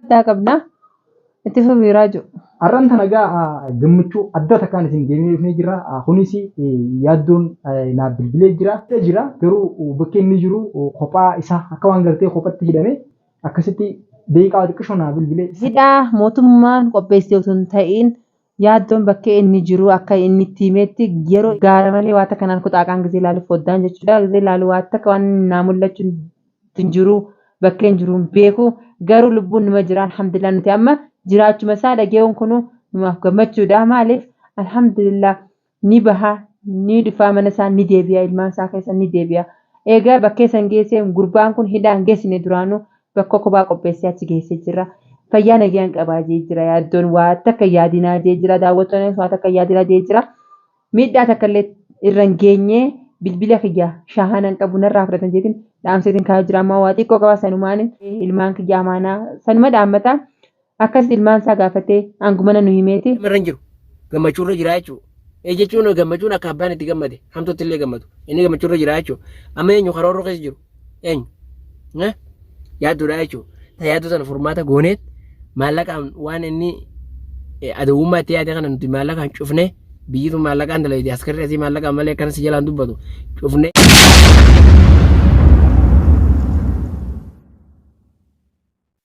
addaa qabna. Itti fufi Raaju. Har'an tana gaa gammachuu adda takkaan isin deemnee dhufnee jira. Kunis yaaddoon naaf bilbilee jira. jira garuu bakki inni jiru kophaa isaa akka waan gartee kophatti hidhame akkasitti deeqaa xiqqishoo naa bilbilee. Hidhaa mootummaan qopheessee osoo hin ta'iin Yaaddoon bakkee inni jiruu akka inni itti himeetti yeroo gaara malee waatta kanaan kuxaaqaan gizee laalu foddaan jechuudha. Gizee laalu waatta waan naa mul'achuun hin jiruu bakkeen jiruu hin beeku garuu lubbuun numa jira alhamdulillah nuti amma jiraachuma isaa dhageewuun kunuu numaaf gammachuudha maaliif alhamdulillah ni baha, ni dhufaa mana isaa ni deebi'a, ilmaan isaa keessa ni deebi'a. Eegaa bakkee san geessee gurbaan kun hidhaa hin geessine duraanuu bakka kophaa qopheessee achi geessee jira. Fayyaa nagaan qabaa jee jira yaaddoon waa takka hin yaadinaa jee jira daawwattoonnis waa takka hin yaadinaa jee jira. Miidhaa takka illee irra hin geenye bilbila kiyya shaahana hin qabu narraa fudhatan jeetiin dhaamseetiin kaa'ee jira ammaa waa xiqqoo qaba sanumaan ilmaan kiyya amaanaa sanuma dhaammataa. Akkasitti ilmaan isaa gaafatee aangumana nu himeeti. Nama irra hin jiru. Gammachuu irra jira jechuudha. Ee jechuun gammachuun akka abbaan itti gammade hamtuutti illee gammadu. Inni gammachuu irra jira jechuudha. Amma eenyu karoorri keessa jiru? Eenyu? Eh? Yaadduudha jechuudha. Ta yaaddoo sana furmaata gooneet maallaqaan waan inni eh, adawwummaa itti yaade kana nuti maallaqaan cufnee biyyi tun maallaqaan dalaydee askarri asii maallaqaan malee akkana si jalaan dubbatu cufnee.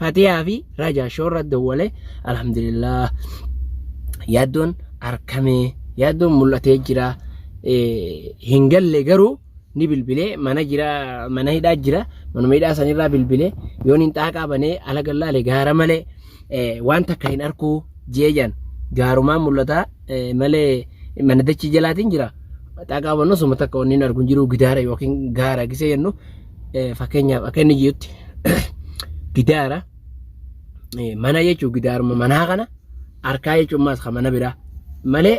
Fatiyaa fi Raja shoorra dawwale alhamdulillah yaaddoon arkamee yaaddoon mul'atee jira hin galle garuu ni bilbilee mana jira mana hidhaa jira manuma hidhaa sanirraa bilbilee yoon hin xaaqaa banee ala gallaale gaara malee waan takka hin arkuu jeejan gaarumaan mul'ata malee mana dachii jalaatiin jira xaaqaa bannu suma takka wanni hin argu hin jiru gidaara yookiin gaara gisee jennu Eh, Fakkeenyaaf akka inni jirutti gidaara eh, mana jechuun gidaaruma manaa kana harkaa jechuun maas kan mana biraa malee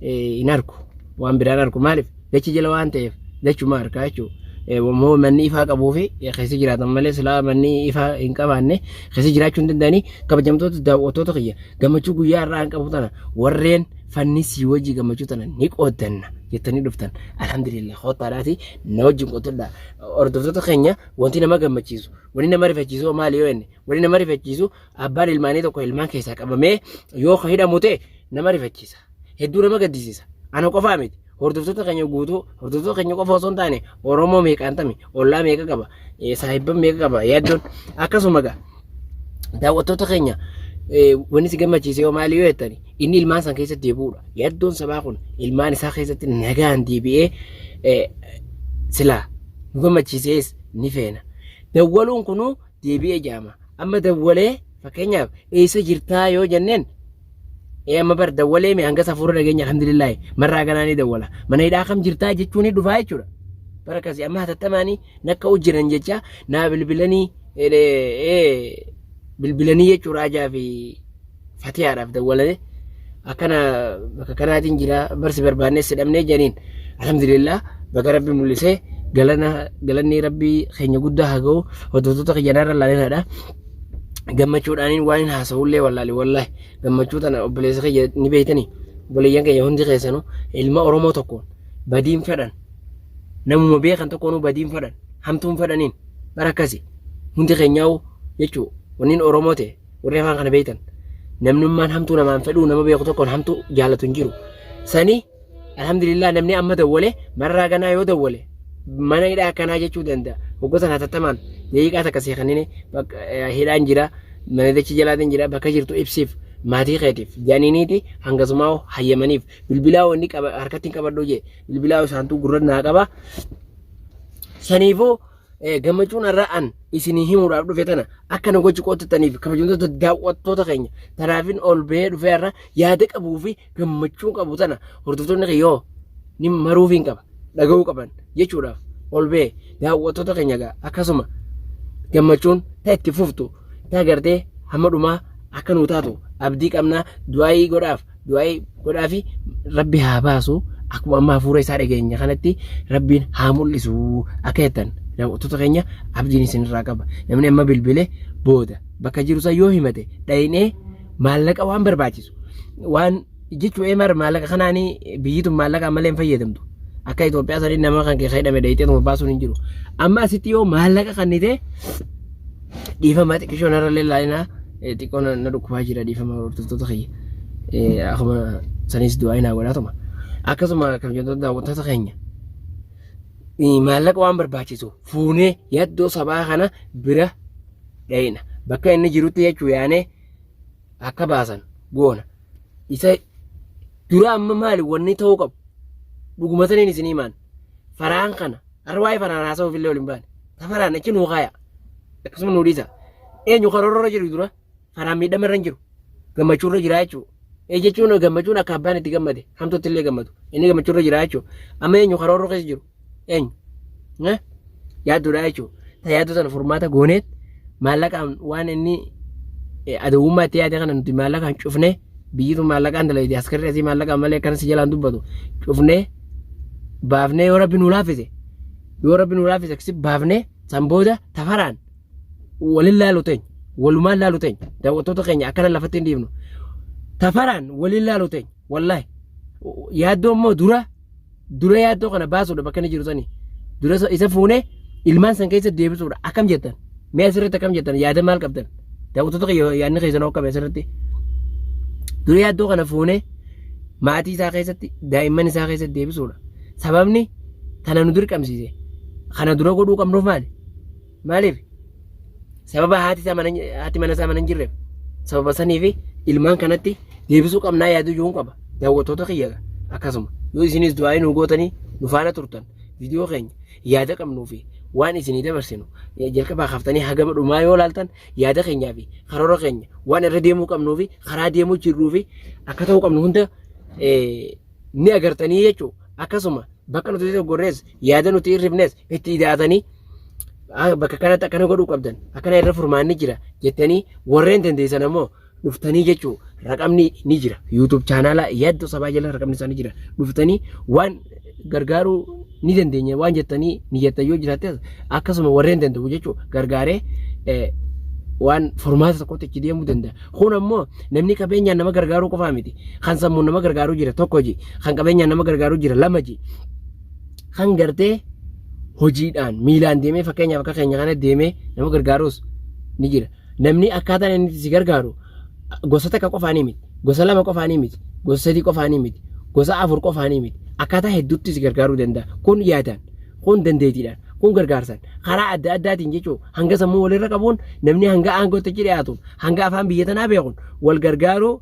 eh, hin arku waan biraan arku maaliif dachi jala waan ta'eef dachuma harkaa jechuun immoo manni ifaa qabuu fi eh, keessa jiraatan malee silaa manni ifaa hin qabaanne keessa jiraachuu hin danda'anii kabajamtoota daawwattoota kiyya gammachuu guyyaa irraa hin qabu tana warreen fanni sii wajji gammachuu tana ni qooddanna jettanii dhuftan alhamdulillah koottaadhaati na wajjin qottadha hordoftoota keenya wanti nama gammachiisu wanti nama rifachiisu hoo maali yoo inni wanti nama rifachiisu abbaan ilmaanii tokko ilmaan keessaa qabamee yoo ka hidhamu ta'e nama rifachiisa hedduu nama gaddisiisa ana qofaa miti Hordoftoota keenya guutuu hordoftoota keenya qofa osoo hin taane Oromoo meeqaan tami ollaa meeqa qaba saahibban meeqa qaba yaaddoon akkasuma gaa daawwattoota keenya wanni si gammachiise yoo maali yoo jettani inni ilmaan san keessa deebi'uudha yaaddoon sabaa kun ilmaan isaa keessatti nagaan deebi'ee silaa nu gammachiisees ni feena dawwaluun kunuu deebi'ee jaama amma dawwalee fakkeenyaaf eessa jirtaa yoo jenneen Ee amma bar dawwalee mee hanga safuura dhageenya alhamdulillaahi marraa ganaa ni dawwala. Mana hidhaa kam jirtaa jechuun ni dhufaa jechuudha. Bara akkasii amma hatattamaanii nakka hojjiran jecha naa bilbilanii bilbilanii jechuudha ajaa fi fatiyaadhaaf dawwalanii akkana bakka kanaatiin jira barsi barbaannee si dhabnee janiin alhamdulillah bakka rabbi mul'isee galana galanni rabbii keenya guddaa haa ga'u hordoftoota kiyyanarra laalinaadha. gammachuudhaaniin waan hin haasa'ullee wallaale wallahi gammachuu tana obboleessa kiyya ni beeytanii obboleeyyan kiyya hundi keessanuu ilma Oromoo tokkoon badiin fedhan namuma beekan tokkoonuu badiin fedhan hamtuun fedhaniin bara akkasi hundi keenyaa'u jechuu wanniin Oromoo ta'e warri afaan kana beeytan namnummaan hamtuu namaan fedhuu nama beeku tokkoon hamtuu jaalatu hin jiru sanii Alhamdulillah namni amma dawwale marraa ganaa yoo dawwale mana hidhaa akkanaa jechuu danda'a. Hoggosan hatattamaan daqiiqaa takka sii kennine hidhaan jira manadachi jalaatiin jira bakka jirtu ibsiif maatii keetiif jaaniiniiti hangasumaa hayyamaniif bilbilaa wanni harkatti hin qabadhu jee bilbilaa isaantuu gurra naa qaba saniifuu Eh, gammachuun har'a an isinii himuudhaaf dhufe tana akka na gochi qottattaniif kabajamtoota daawwattoota keenya tanaafin ol bahee dhufee har'a yaada qabuu fi gammachuun qabu tana hordoftoonni kiyyoo ni maruuf hin qaba dhaga'uu qaban jechuudhaaf ol bahee daawwattoota keenya gaa akkasuma gammachuun ta itti fuftu ta gartee hamma dhumaa akka nuu taatu abdii qabnaa du'aayii godhaaf du'aa'ii godhaa fi rabbi haa baasu akkuma amma hafuura isaa dhageenya kanatti rabbiin haa mul'isu akka jettan daawwattoota keenya abdiin isinirraa qaba namni amma bilbile booda bakka jiru san yoo himate dhayinee maallaqa waan barbaachisu waan jechu emar maallaqa kanaani biyyi tun maallaqa ammallee hin fayyadamtu akka Itoophiyaa sanii nama kan keessa hidhame dhayitee tuma baasuun hin jiru amma asitti yoo maallaqa kannite dhiifama xiqqishoon irra lallaalinaa xiqqoo na na dhukkubaa jira dhiifama hordoftoota kiyya Eh, akkuma sanis du'aa hin hawwataatuma akkasuma kabajamtoota daawwattoota keenya eh, maallaqa waan barbaachisu fuunee yaddoo sabaa kana bira dhayina bakka inni jirutti jechuu yaanee akka baasan goona isa dura amma maali wanni ta'uu qabu dhuguma saniin isin himaan faraan kana Har'a waa'ee faraan haasa'uuf illee ol hin baane. Ta faraan achi nuu kaaya. Akkasuma nuu dhiisa. Eenyu karoora irra jiru dura faraan miidhama irra hin jiru. Gammachuu irra jiraa jechuudha. Ee jechuun gammachuun akka abbaan itti gammade hamtuutti illee gammadu. Inni gammachuu irra jiraa jechuudha. Amma eenyu karoora keessa jiru? Eenyu? Yaaddudha jechuudha. Ta yaaddoo sana furmaata gooneet maallaqaan waan inni adawwummaa itti yaade kana nuti maallaqaan cufne biyyitu maallaqaan dalayti askarri asii maallaqaan malee akkana si jalaan dubbatu cufne baafnee yoo rabbi nu laaffise yoo rabbi nu laaffise akkasi baafnee san booda tafaraan walin laalu teenya walumaan laalu teenya daawwattoota keenya akkana lafatti hin dhiifnu tafaraan walin laalu teenya wallaahi yaaddoo immoo dura dura yaaddoo kana baasuudha bakka inni jiru sani dura isa- isa fuune ilmaan san keessa deebisuudha akkam jettan mee asirratti akkam jettan yaada maal qabdan daawwattoota kiyya yaadni keessan hokkame asirratti dura yaaddoo kana fuune maatii isaa keessatti daa'imman isaa keessatti deebisuudha sababni kana nu dirqamsiise kana dura godhuu qabnuuf maali Maaliif? Sababa haati isaa mana haati mana isaa mana hin jirreef sababa sanii fi ilmaan kanatti deebisuu qabnaa yaaduu iyyuu hin qaba. Daawwattoota kiyya akkasuma yoo isinis du'aa nu gootanii nu faana turtan viidiyoo keenya yaada qabnuu fi waan isinii dabarsinu eh, jalqabaa kaaftanii hagama dhumaa yoo laaltan yaada keenyaa fi karoora keenya waan irra deemuu qabnuu fi karaa deemuu jirruu fi akka ta'uu qabnu hunda eh, ni agartanii jechuudha. Akkasuma bakka nuti gorrees yaada nuti hirrifnes itti idaatanii "Ah, bakka kanatti akkana godhuu qabdan akkana irra furmaanni jira jettanii warreen dandeessan ammoo dhuftanii jechuu raqamni ni jira yuutuub chaanaalaa yaaddoo sabaa jala raqamni isaa ni jira dhuftanii waan gargaaruu ni dandeenya waan jettanii ni jettan yoo jiraattes akkasuma warreen danda'u jechuu gargaaree eh, waan furmaata tokkotti itti deemuu danda'a. Kun ammoo namni qabeenyaan nama gargaaruu qofaa miti. Kan sammuun nama gargaaruu jira tokko ji. Kan qabeenyaan nama gargaaruu jira lama ji. kan gartee hojiidhaan miilaan deemee fakkeenyaaf akka keenya kana deemee nama gargaarus ni jira. Namni akkaataan inni si gargaaru gosa takka qofaanii miti. Gosa lama qofaanii miti. Gosa sadii qofaanii miti. Gosa afur qofaanii miti. Akkaataa hedduutti si gargaaruu danda'a. Kun yaadaan, kun dandeetiidhaan, kun gargaarsan karaa adda addaatiin jechuun hanga sammuu walirra qabuun namni hanga aangootti dhiyaatuun hanga afaan biyya tanaa beekuun wal gargaaruu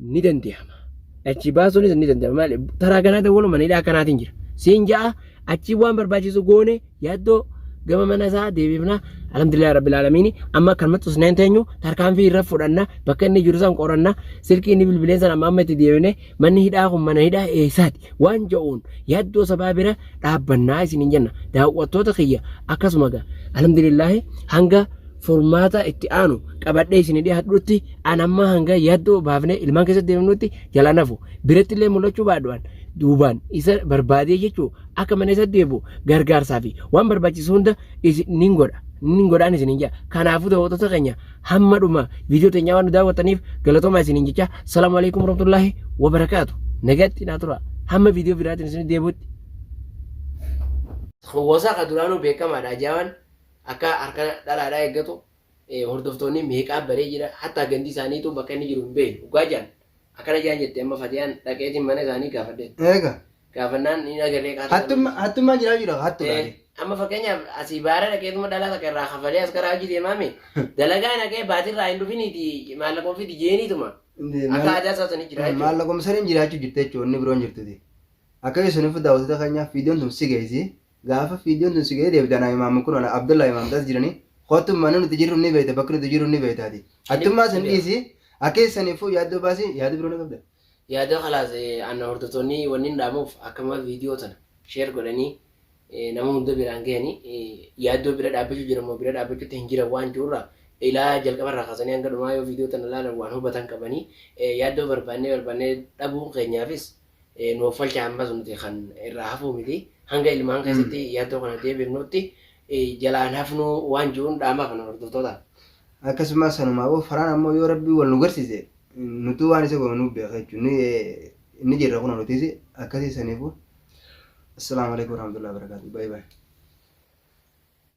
ni danda'ama. Achi baasuunis ni danda'ama. Maali? Taraa kanaa ta'uu mana hidhaa akkanaatiin jira. Siin ja'a achi waan barbaachisu goone yaaddoo gama mana isaa deebifna. Alhamdulillah Rabbil Aalamiin amma kan maxxus naan teenyu tarkaanfii irra fudhanna bakka inni jiru san qoranna silkii inni bilbilee san amma amma itti deebine manni hidhaa kun mana hidhaa eessaati waan ja'uun yaaddoo sabaa bira dhaabbannaa isiniin jenna daawwattoota kiyya akkasuma gaa alhamdulillaahi hanga furmaata itti aanu qabadhee isin dhiyaadhutti an amma hanga yaaddoo baafnee ilmaan keessatti deemnutti jala nafu biratti illee mul'achuu baadhu'an duubaan isa barbaadee jechuu akka mana isa deebi'u gargaarsaa fi waan barbaachisu hunda isin nin godha nin godhaan isin hin jedha kanaafuu daawwattoota keenya hamma dhuma viidiyoo teenyaa waan nu daawwattaniif galatoomaa isiniin jecha salaamu alaikum warahmatullaahi wabarakaatu nagatti naa tura hamma viidiyoo biraatiin isin deebuutti. Hawwaasaa kan duraanuu beekamaadha ajaa'an akka harka dhalaadhaa eeggatu hordoftoonni meeqaa baree jira hatta gandi isaaniitu bakka inni jiru hin beeknu dhugaa jaan Akkana jaan jette amma Fatiyaan dhaqeetiin mana isaanii gaafadhe. Eega. Gaafannaan ni dhagalee kaasa. Hattumma hattummaan jiraa jira hattu gaari. Amma fakkeenyaaf asii baara dhaqeetuma dhalaa takka irraa kafalee as karaa hojii deemaame dalagaa naqee baatirraa hin dhufiniiti maallaqa ofii dijeeniituma. Akka aadaa isaa sanii jira jechuudha. Maallaqa misariin jiraachuu jirti jechuudha inni biroon jirtuti. Akka isin fuudhaa daawwattoota keenyaaf viidiyoon tun si geessi. Gaafa fiidiyoon tun si gahee deebita anaa imaamma kun ana Abdullah imaam das jiranii kottu mana nuti jirru ni beeyta bakki nuti jirru ni beeytaati. Attummaa san dhiisi akeessa saniif fuu yaaddoo baasi yaada biroo ni qabda. Yaadoo kalaas anna hordoftoonnii wannin dhaamuuf akkamuma viidiyoo tana share godhanii nama hunda biraan gahanii yaaddoo bira dhaabbachuu jiran moo bira dhaabbachuutti hin jiran waan jiru irraa ilaa jalqaba irraa kaasanii hanga dhumaa yoo viidiyoo tana ilaalan waan hubatan qabanii yaaddoo barbaannee barbaannee dhabuun keenyaafis nu offalcha ammas nuti kan irraa hafuu miti hanga ilmaan keessatti yaaddoo kana deebifnuutti jalaan hafnuu waan jiruun dhaamaa kana hordoftoota. Akkasumas sanumaa boo faraan ammoo yoo rabbii wal nu garsiise nutuu waan isa goonu nuuf beeka jechuun ni jirra kun nutis akkasii saniifu. Assalaamu alaikum warahmatullahi wabarakatuh. Bye bye.